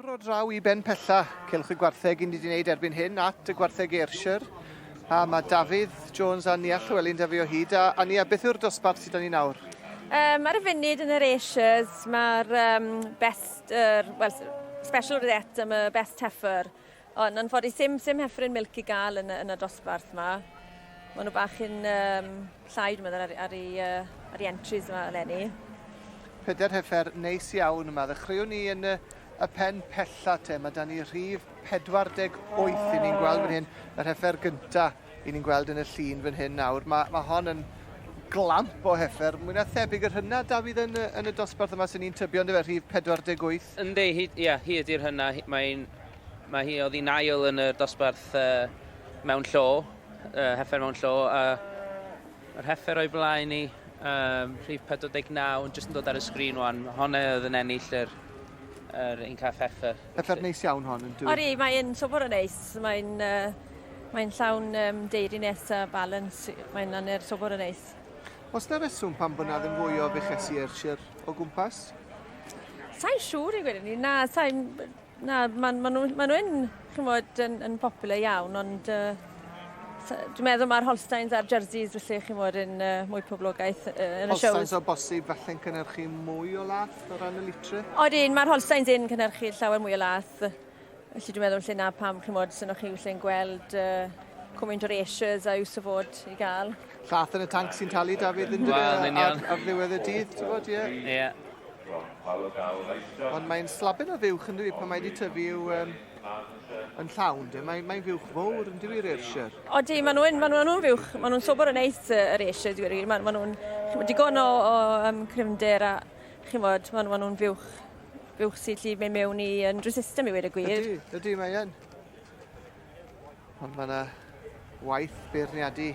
Bro draw i ben pella, celwch y gwartheg ni wedi gwneud erbyn hyn at y gwartheg Ayrshire. A mae Dafydd Jones a Nia Llewelyn da fi o hyd. A, a Nia, beth yw'r dosbarth sydd da ni nawr? Um, ar y funud yn yr Asias, mae'r um, best, er, well, special rosette am y best heifer. O, yn anffodus, sim, sim heffryn milc i gael yn, yn y dosbarth yma. Mae nhw bach yn um, llai, dwi'n meddwl, ar, ar, i, uh, ar i entries yma eleni. Pedair heffer neis iawn yma. Ddechreuwn ni yn y, y pen pella te. Mae da ni rhif 48 i ni'n gweld fan hyn, yr heffer gyntaf. 'yn ni'n gweld yn y llun fan hyn nawr, ma' ma' hon yn glamp o heffer, mwy na thebyg yr hynna Dafydd yn y yn y dosbarth yma sy'n un tybio on'd yfe rhif 48? Yndi hi ia hi ydi'r hynna hi mae'n ma' hi oddi'n ail yn y dosbarth yy mewn llo yy heffer mewn llo a Yr heffer o'i blaen i, um, rhif 49, yn jyst yn dod ar y sgrin wan. Honne oedd yn ennill yr, yr un cath heffer. Heffer neis iawn hon yn dwi. Ori, mae'n sobor o neis. Mae'n uh, mae'n llawn um, deirines a balance. Mae'n anner sobor o neis. Os na reswm pan bod na ddim fwy o fechesi Ayrshire o gwmpas? Sa'n siŵr i gwirionedd. Na, sa'n Na, maen ma nhw, ma nhw yn, chymod, yn, yn popular iawn, ond uh, dwi'n meddwl mae'r Holsteins a'r Jerseys, felly, chymod, yn uh, mwy poblogaeth uh, yn y siow. Holsteins o bosib felly'n cynnyrchu mwy o lath o ran y litre? Odyn, mae'r Holsteins yn cynnyrchu llawer mwy o lath. Felly dwi'n meddwl lle na pam, chymod, sy'n o'ch chi wyllu'n gweld uh, cwmynt o'r Asias a yw syfod i gael. Llath yn y tanc sy'n talu Dafydd yn well, e, ar, ar ddiwedd y dydd, ti'n bod, ie. Ie. Ond mae'n slabyn o fuwch yn dwi pan mae wedi tyfu yw um, yn llawn, de. Mae, mae'n fuwch fawr yn dwi Ayrshire. O di, maen nhw'n ma nhw, nhw fuwch, maen nhw'n sobor yn neis yr Ayrshire, dwi'n gwir. Maen ma nhw'n digon o, o um, cryfnder a chi'n bod, maen ma nhw'n fuwch, fuwch sy'n lli mewn i yn resistem i wedi y gwir. Ydy, ydy, mae'n. Ond mae yna waith beirniadu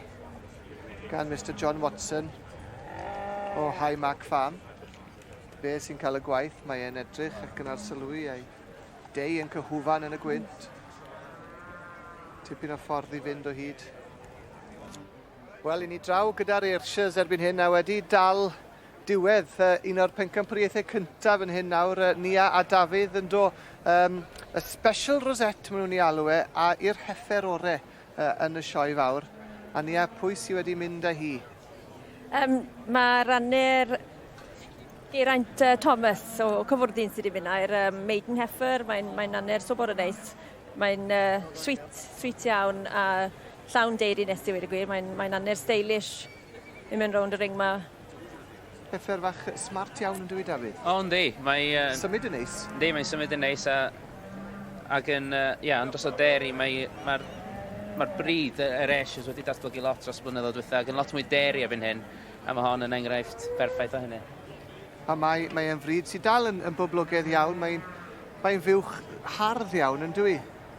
gan Mr John Watson o High Mark Farm. Be sy'n cael y gwaith, mae e'n edrych ac yn arsylwi a'i deu yn cyhwfan yn y gwynt. Tipyn o ffordd i fynd o hyd. Wel, i ni draw gyda'r Ayrshires erbyn hyn a wedi dal diwedd un o'r pencampwriaethau cyntaf yn hyn nawr, Nia a Dafydd yn do, um, y special rosette maen nhw'n ei alw e, a i'r heffer ore uh, yn y sioe fawr. A Nia, pwy sydd wedi mynd â hi? Um, mae rannu'r Geraint uh, Thomas o Cyfwrdyn sydd wedi mynd a'r um, Maiden Heifer, mae'n mae anner so bod yn neis. Mae'n uh, sweet, sweet iawn a llawn deiri nes i wedi gwir, mae'n mae anner stylish. Ni'n mynd rownd y ring ma. Pethau fach smart iawn yn dwi, Dafydd. O, oh, yndi. Mae... Uh, symud yn neis. Yndi, mae'n symud yn neis a... Ac yn, uh, yeah, yn dros o deri, mae'r mae, mae bryd yr Ashes wedi datblygu lot dros blynyddoedd diwetha ac yn lot mwy deri erbyn hyn, a mae hon yn enghraifft berffaith o hynny. A mae, mae e'n fryd sy'n dal yn, yn boblogaidd iawn, mae'n mae fuwch hardd iawn yn dwi.